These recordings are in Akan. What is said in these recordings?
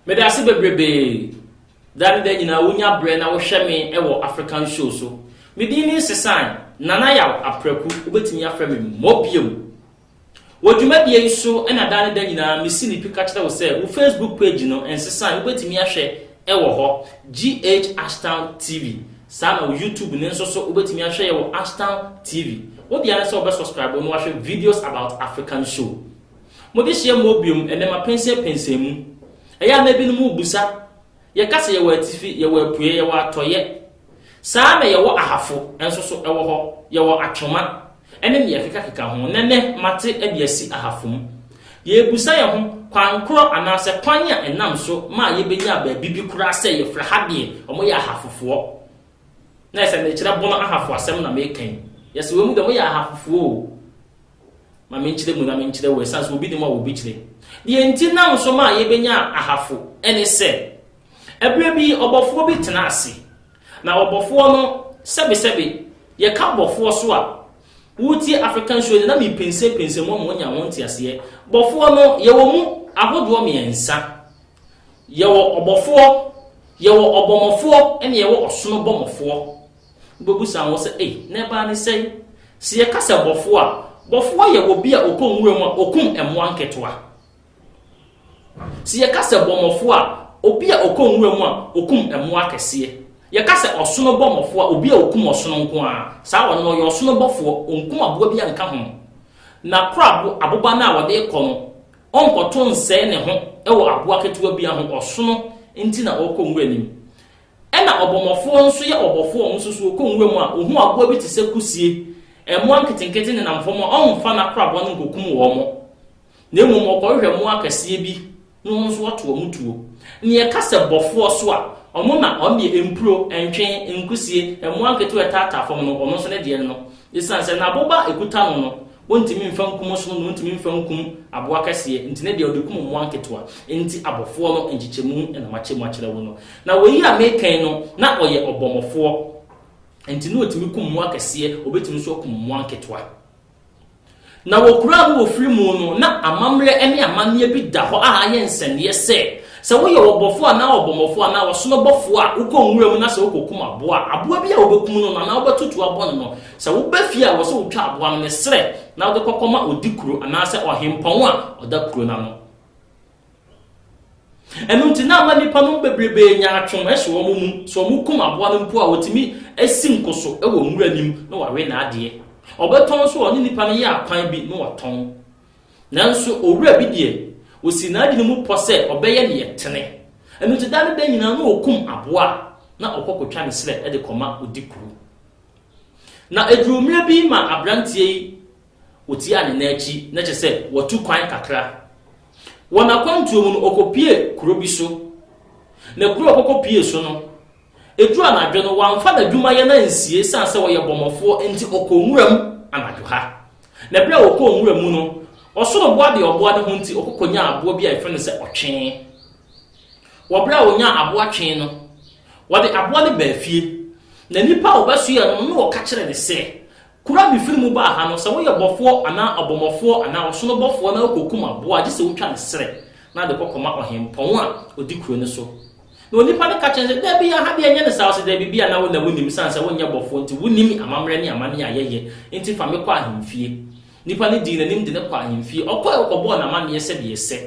meda ase bebrebe da ne da nyinaa wonya berɛ na wohwɛ me wɔ african show so medin ne sesan nana yaw aprɛku wobɛtumi afrɛ me mmɔ biom Wɔ dwumadie yi so na daa ne da nyinaa mesi no pi ka kyerɛ wo sɛ wo Facebook page no nsesa a wobɛtumi ahwɛ wɔ hɔ, GH Ashtown TV. Saa na wo YouTube no nso so wobɛtumi ahwɛ yɛ wɔ Ashtown TV. Wo deɛ ara ne sɛ wobɛ subscribe na wahwɛ videos about African show. Mo dehyeɛ mmɔɔ biom ɛnɛ mapɛnsɛn pɛnsɛn mu. Ɛyɛ a na ebinom rebusa, yɛka sɛ yɛwɔ atifi, yɛwɔ apueɛ, yɛwɔ atɔeɛ. Saa na yɛwɔ ahafo nso so wɔ hɔ, yɛwɔ atwoma, ne nea ɛkekakeka ho, na ɛnnɛ mate de asi ahafam. Yɛrebisa yɛn ho kwan koro anaasɛ kwan a ɛnam so ma a yebenyaa baabi bi koraa sɛ yɛfrɛ ha deɛ wɔyɛ ahafofoɔ. Na ayɛ sɛ merekyerɛ Bono ahafo asɛm na mereka yi. Yes, wɔ mu deɛ wɔyɛ ahafofoɔ o. Ma menkyerɛ mu na menkyerɛ wo ɛsiane sɛ obi nim a obi kyerɛ. Deɛ nti nam so ma a yebenyaa ahafo ne sɛ, ɛberɛ bi ɔbɔfoɔ bi tenaa ase Na ɔbɔfoɔ no, sɛbesɛbe, yɛka bɔfoɔ so a, woretie African show no na mepensenpensen mu ama wanya ho nteaseɛ. Bɔfoɔ no, yɛwɔ mu ahodoɔ mmiɛnsa. Yɛwɔ ɔbɔfoɔ, yɛwɔ ɔbɔmɔfoɔ, ɛne yɛwɔ ɔsono bɔmɔfoɔ. Wobɛbu saa ho sɛ, ei, na ɛbaa ne sɛn? Sɛ yɛka sɛ bɔfoɔ a, bɔfoɔ yɛ obi a ɔkɔ nwura mu a ɔkum mmoa nketewa. Sɛ yɛka sɛ bɔmmɔfoɔ a, obi a ɔkɔ nwura mu a ɔkum mmoa akɛseɛ. Yɛka sɛ ɔsono bɔmmɔfoɔ a, obi a ɔkum ɔsono nko ara. Saa ɔno no, ɔyɛ ɔsono bɔfoɔ, ɔnkum aboa bi a nka ho. N'akorabo, aboba no a ɔde rekɔ no, ɔnkɔto nsɛe ne ho wɔ aboa ketewa biara ho, ɔsono nti na ɔrekɔ nwura no mu. Ɛna ɔbɔmmɔfoɔ nso yɛ ɔbɔfoɔ a ɔno nso so ɔkɔ nwura mu a, ɔhu aboa bi te sɛ kusie, mmoa nketenkete nenam fam a, ɔmfa n'akorabɔ no nkɔkum wɔn. Na mmom wɔkɔhwehwɛ mmoa akɛseɛ bi ne wɔn nso wɔto wɔn tuo. Nea ɛka sɛ bɔfoɔ so a, wɔn na wɔn deɛ mpuro, ntwe, nkusie, mmoa nketewa a ɛtaataa fam no, wɔn nso ne deɛ no. Esiane sɛ na boba a ɛkuta no no, wɔntumi mfa nkum ɔsono na wɔntumi mfa nkum aboa kɛseɛ nti, ne deɛ wɔde kum mmoa nketewa. Enti abɔfoɔ no nkyekyɛmu na makyɛ mu akyerɛ wo no. Na wei yi a mereka yi no, na ɔyɛ ɔbɔmmɔfoɔ, enti na ɔtumi kum mmoa kɛseɛ, ɔbɛtumi nso akum mmoa nketewa. Na wɔkuraa no wɔ firi mu no, na amammerɛ ne amanneɛ bi da hɔ a ayɛ nsɛnneɛ sɛ, sɛ woyɛ ɔbɔfoɔ anaa ɔbɔmmɔfoɔ anaa ɔsono bɔfoɔ a, wokɔ nwura mu na sɛ wokɔkum aboa a, aboa bi a wobɛkum no no anaa wobɛto tuo abɔ no no, sɛ woba fie a, ɛwɔ sɛ wotwa aboa no ne serɛ na wode kɔkɔma ɔdi kuro anaasɛ ɔhempɔn a ɔda kuro no ano. Ɛno nti na ama nnipa no bebrebe nya atwom so wɔn mu. Sɛ wɔkum aboa no mpo a, wɔtumi si nko so wɔ nwura anim na wɔawe n'adeɛ. Wɔbɛtɔn nso a, wɔne nnipa no yɛ akwan bi na wɔtɔn. Nanso owura bi deɛ, ɔsi n'adwene mu pɔ sɛ ɔbɛyɛ deɛ ɛtene. Ɛno nti da ne da nyinaa na ɔkum aboa a na ɔkɔ kɔtwa ne serɛ de kɔma ɔdi kuro. Na ɛduruu mmerɛ bi ma aberanteɛ yi Otiaa ne nan akyi, na kyerɛ sɛ watu kwan kakra. Wɔ n'akwantuo mu no, ɔkɔpuee kuro bi so. Na kuro a ɔkɔkɔpuee so no, ɛduru anadwo no, wamfa n'adwumayɛ no ansie ɛsiane sɛ ɔyɛ bɔmmɔfoɔ nti, ɔkɔɔ nwuram anadwo ha. Na berɛ a ɔkɔɔ nwura mu no, ɔsono boa deɛ ɔboa ne ho nti, ɔkɔkɔnyaa aboa bi a yɛfrɛ no sɛ ɔtwee. Wɔ berɛ a ɔnyaa aboa twee no, ɔde aboa no baa fie. Na nipa a ɔbɛsoɛɛ no no na ɔka kyerɛɛ no sɛ, Kuro a mefiri mu baa ha no, sɛ woyɛ bɔfoɔ anaa ɔbɔmmɔfoɔ anaa ɔsono bɔfoɔ na wokɔkum aboa a, gye sɛ wotwa ne serɛ na wode kɔ kɔma ɔhempɔn a ɔdi kuro no so. Na onipa no ka kyerɛ no sɛ, Dabi, aha deɛ ɛnyɛ ne saa. Ɔse, Dabi, bi a na wo na wonim, esiane sɛ wonyɛ bɔfoɔ nti, wonim amammerɛ ne amanneɛ a yɛyɛ, enti fa me kɔ ahemfie. Nipa no dii n'anim de no kɔɔ ahemfie. Ɔkɔe, ɔkɔbɔɔ no amanneɛ sɛdeɛ ɛsɛ.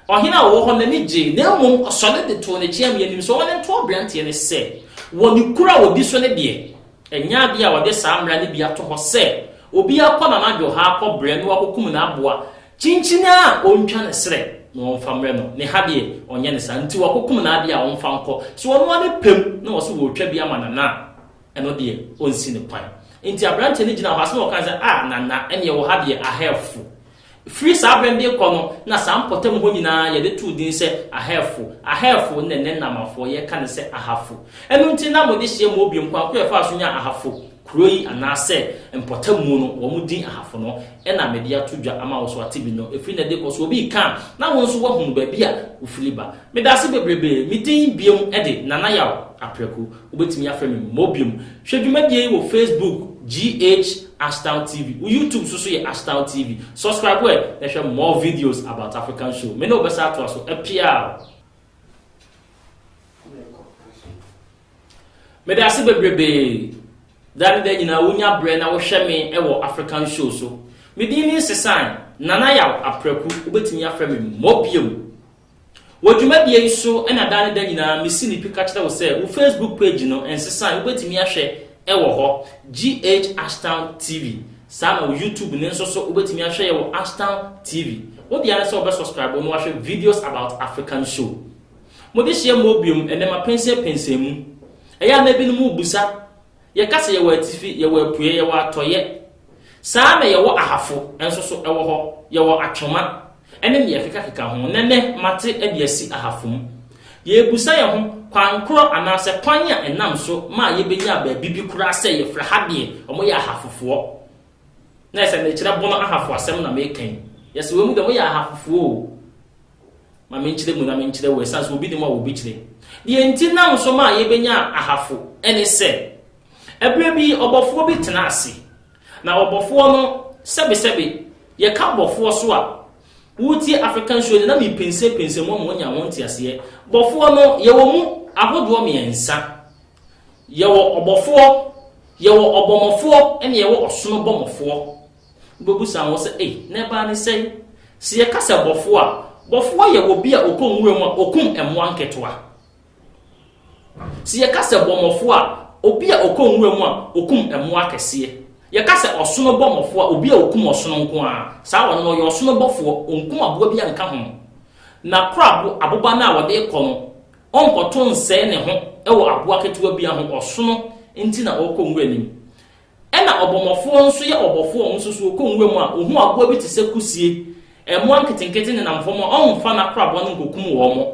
Ɔhene a ɔwɔ hɔ no ani gyei, na mmom ɔsɔre de too n'akyi amee anim sɛ ɔne nto aberanteɛ no sɛ, wɔ ne kuro a ɔdi so no deɛ, ɛnyɛ adeɛ a ɔde saa mmara no bi ato hɔ sɛ, obiara kɔ n'anadwo ha kɔ brɛ no akɔkum n'aboa kyinkyin a ɔntwa ne serɛ na ɔmfa mmrɛ no, ne ha deɛ, ɔnyɛ no saa, nti wakɔkum n'adeɛ a ɔmfa nkɔ, sɛ ɔno ara pɛ mu na ɔse ɔretwa bi ama Nana a, ɛno deɛ, ɔnsi no kwan. Nti aberanteɛ no gyinaa hɔ, asɛm a ɔkae ne sɛ, Ah, Nana, ɛnneɛ wɔ ha deɛ, ahɛfo. Firi saa bere no de rekɔ no, na saa mpɔtam hɔ nyinaa yɛde too din sɛ Ahefo, Ahefo, na ɛnnɛ Namafo, yɛka no sɛ Ahafo. Ɛno nti na wɔde hyia mu bio. Nkwan ko a ɛfaa so nyaa Ahafo kuro yi anaasɛ mpɔtam mu no, wɔn din Ahafo no na mede ato dwa ama wo. So wate bi no? Ɛfiri nnɛ de rekɔ, sɛ obi reka a, na wo nso woahunu baabi a wofiri ba. Meda ase bebrebe. Me din bio de, Nana Yaw Apraku. Wobɛtumi afrɛ me mmɔ biom. Hwɛ dwumadie yi wɔ Facebook GH Ashtown TV. Wo YouTube so so yɛ Ashtown TV. Subscribe ɛ na hwɛ more videos about African show. Me ne wo bɛsa atoa so. Apiaaww. Meda ase bebrebee. Da ne da nyinaa wonya berɛ na wohwɛ me wɔ African show so. Me din ne Nsesan, Nana Yaw Apraku. Wobɛtumi afrɛ me mmɔ biom. Wɔ dwumadie yi so na daa ne da nyinaa mesi no pi ka kyerɛ wo sɛ wo Facebook page no nsesa a wobɛtumi ahwɛ wɔ hɔ, GH Ashtown TV. Saa na wo YouTube no nso so wobɛtumi ahwɛ yɛ wɔ Ashtown TV. Wo dea ne sɛ wobɛ subscribe na wahwɛ videos about African show. Mo dehyeɛ mmɔɔ biom ɛnɛ mapɛnsɛn pɛnsɛn mu. Ɛyɛ a na ebinom rebisa Yɛka sɛ yɛwɔ atifi, yɛwɔ apueɛ, yɛwɔ atɔeɛ. Saa ara na yɛwɔ ahafo nso so wɔ hɔ, yɛwɔ atwoma, ne deɛ ɛkekakeka ho. Nnɛ nnɛ, mate de asi ahafo mu. Yɛrebisa yɛn ho, kwan korɔ anaasɛ kwan a ɛnam so ma yɛbɛnya baabi bi koraa sɛ yɛfrɛ ha deɛ wɔyɛ ahafofoɔ? Na ɛsɛ mekyerɛ bono ahafo asɛm na meka yi. Yɛse wɔn mu deɛ wɔyɛ ahafofoɔ o. Ma menkyerɛ mu na menkyerɛ wo ɛsiane sɛ obi nni mu a obi kyerɛ. Deɛ nti nam so maa yɛbɛnyaa ahafo ne sɛ, ɛberɛ bi ɔbɔfoɔ bi tenaa ase, na ɔbɔfoɔ no, sɛbesɛbe, yɛka ɔbɔfoɔ so a, wotie African show de na mepensenpensen mu ama wɔanya ho nteaseɛ. Bɔfoɔ no, yɛwɔ mu ahodoɔ mmiɛnsa. Yɛwɔ ɔbɔfoɔ, yɛwɔ ɔbɔmmɔfoɔ, ɛnna yɛwɔ ɔsono bɔmmɔfoɔ. Wobebisa wo sɛ, 'Ei, na ɛbaa ne sɛn? Sɛ yɛka sɛ bɔfo a, bɔfo yɛ obi a ɔkɔ nwuram a ɔkum mmoa nketewa. Sɛ yɛka sɛ bɔmmɔfo a, obi a ɔkɔ nwuram a ɔkum mmoa akɛseɛ. Yɛka sɛ ɔsono bɔmmɔfo a, obi a ɔkum ɔsono nko ara. Saa ɔno no, ɔyɛ ɔsono bɔfoɔ, ɔnkum aboa biara nka ho. Na korabo, aboba no a ɔde rekɔ no, ɔnkɔto nsɛe ne ho wɔ aboa ketewa biara ho, ɔsono nti na ɔrekɔ nwura no mu. Ɛna ɔbɔmmɔfoɔ nso yɛ ɔbɔfoɔ a ɔnso so ɔkɔ nwura mu a ɔhu aboa bi te sɛ kusie, mmoa nketenkete nenam fam a ɔnfa n'akoraboa no nkɔkum wɔn,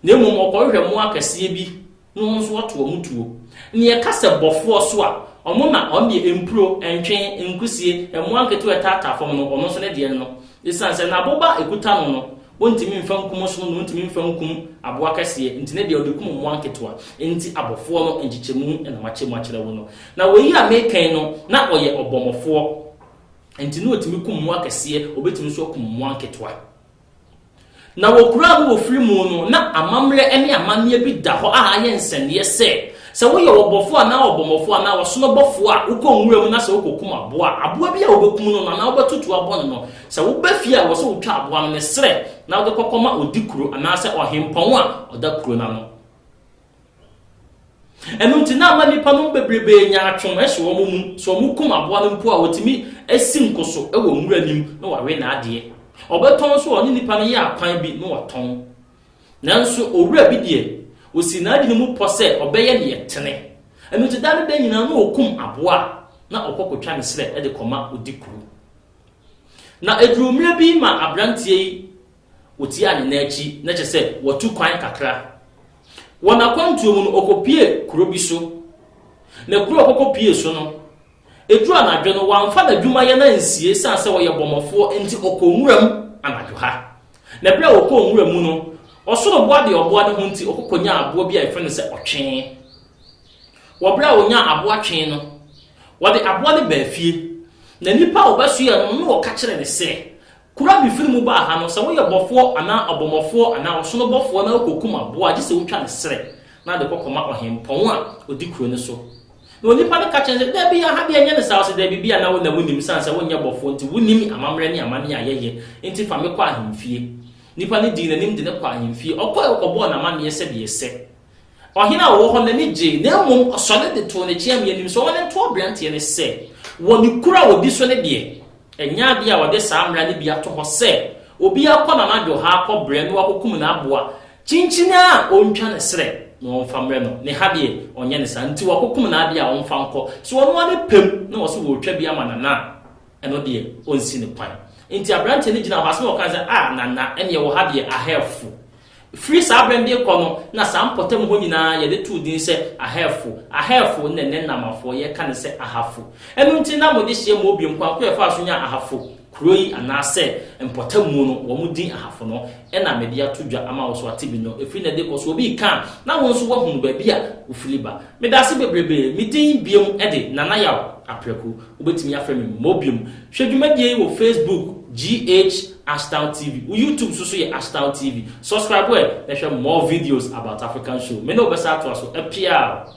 na mmom ɔkɔhwehwɛ mmoa akɛseɛ bi na ɔno nso ɔto wɔn tuo. Nea ɛka sɛ bɔfoɔ so a, ɔno na ɔno deɛ mpuro, ntwen, nkusie, mmoa nketewa a ɛtaataa fam no, ɔno nso ne deɛ no, ɛsiane sɛ n'aboba a ɛkuta no no, Wontumi mfa nkum ɔsono na wontumi mfa nkum aboa kɛseɛ, nti ne deɛ wɔde kum mmoa nketewa. Enti abɔfoɔ no nkyekyɛmu na makyɛ mu akyerɛ wo no. Na wei a mereka yi no, na ɔyɛ ɔbɔmmɔfoɔ, nti na ɔtumi kum mmoa kɛseɛ, ɔbɛtumi nso akum mmoa nketewa. Na wɔ kuro a me wɔ firi mu no, na amammerɛ ne amanneɛ bi da hɔ a ayɛ nsɛnneɛ sɛ, sɛ woyɛ ɔbɔfoɔ anaa ɔbɔmmɔfoɔ anaa ɔsonobɔfoɔ a wokɔ nwura mu na sɛ wokɔkum aboa a, aboa bi a wobɛkum no no anaa wobɛtoto abɔ no no, Sɛ woba fie a, ɛwɔ sɛ wotwa aboa no ne serɛ na wode kɔ kɔma odi kuro anaasɛ ɔhempɔn a ɔda kuro no ano. Ɛno nti, na ama nnipa nom bebrebee nyaatwom hyɛ wɔn mu, sɛ wɔkum aboa no mpo a, wɔtumi si nko so wɔ nwura anim na wɔawe n'adeɛ. Wɔbɛtɔn nso a, wɔne nnipa no yɛ akwan bi na wɔtɔn. Nanso, owura bi deɛ, ɔsii n'adwene mu pɔ sɛ ɔbɛyɛ deɛ ɛtene. Ɛno nti, da ne da nyinaa na ɔkum aboa a, na ɔkɔ kɔtwa ne serɛ de kɔma odi kuro. Na eduruu mmerɛ bi ma aberanteɛ yi ɔtiaa ne nan akyi, na kyerɛ sɛ watu kwan kakra. Wɔ n'akwantuo mu no, ɔkɔpuee kuro bi so. Na kuro a ɔkɔkɔpuee so no, ɛduruu anadwo no, wamfa n'adwumayɛ no ansie ɛsiane sɛ ɔyɛ bɔmmɔfoɔ nti, ɔkɔɔ nwura mu anadwo ha. Na berɛ a ɔkɔɔ nwura mu no, ɔsoro boa deɛ ɔboa ne ho nti, ɔkɔkɔnyaa aboa bi a yɛfrɛ no sɛ ɔtwee. Wɔ bere a onyaa aboa twee no, wɔde aboa no baa fie, na nnipa a wɔbɛsoɛɛ no no na wɔka kyerɛɛ no sɛ, Kurow a mifiri mu baa ha no, sɛ woyɛ bɔfoɔ anaa ɔbɔmmɔfoɔ anaa ɔsono bɔfoɔ na wukokum aboa a, gye sɛ wutwa ne srɛ na de kɔ kɔma ɔhempɔn a odi kurow no so. Na onipa no ka kyerɛɛ no sɛ, Dabi, aha deɛ ɛnyɛ ne saa. Ɔse, Dabi, bi a na wo na wunim, esiane sɛ wonyɛ bɔfoɔ nti, wunim amammerɛ ne amanneɛ a yɛyɛ, enti fa me kɔ ahemfie. Nipa no dii n'anim de no kɔɔ ahemfie. Ɔkɔe kɔbɔɔ no amanneɛ sɛdeɛ ɛsɛ. Ɔhene a ɔwɔ hɔ no ani gyei, na mmom ɔsɔre de too ne kyeammea anim sɛ ɔma no nto aberanteɛ no sɛ, wɔ ne kuro a ɔdi so no deɛ, ɛnyɛ adeɛ a wɔde saa mmara no bi ato hɔ sɛ, obi akɔ no anadwo ha akɔ brɛ na wakɔkum n'aboa kyinkyin a ɔntwa ne serɛ na ɔmfa mmrɛ no, ne ha deɛ, ɔnyɛ no saa. Nti wakɔkum n'adeɛ a ɔmfa nkɔ. Sɛ ɔno ara ne pɛm na ɔse ɔretwa bi ama Nana a, ɛno deɛ, ɔnsi no kwan. Nti aberanteɛ no gyinaa hɔ, ase na ɔkae sɛ, Ah, Nana, ɛnneɛ wɔ ha deɛ, ahɛfo. Firi saa berɛ no de rekɔ no, na saa mpɔtam hɔ nyinaa yɛde too din sɛ Ahɛfo, Ahɛfo, na ɛnnɛ Namafoɔ yɛka no sɛ Ahafo. Ɛno nti na wɔde hyia mu bio, nkwan ko a ɛfaa so nyaa Ahafo kuro yi anaasɛ mpɔtam mu no, wɔn din Ahafo no na mede ato dwa ama wo. So wate bi no? Ɛfiri nnɛ de rekɔ, sɛ obi reka a, na wo nso woahunu baabi a wofiri ba. Medaase bebrebe. Me din bio de, Nana Yaw Apraku. Wobɛtumi afrɛ me mmɔ biom. Hwɛ dwumadie yi wɔ Facebook GH Ashtown TV. Wo YouTube so so yɛ Ashtown TV. Subscribe ɛ na hwɛ more videos about African show. Me ne wo bɛsa atoa so. Apiaaww.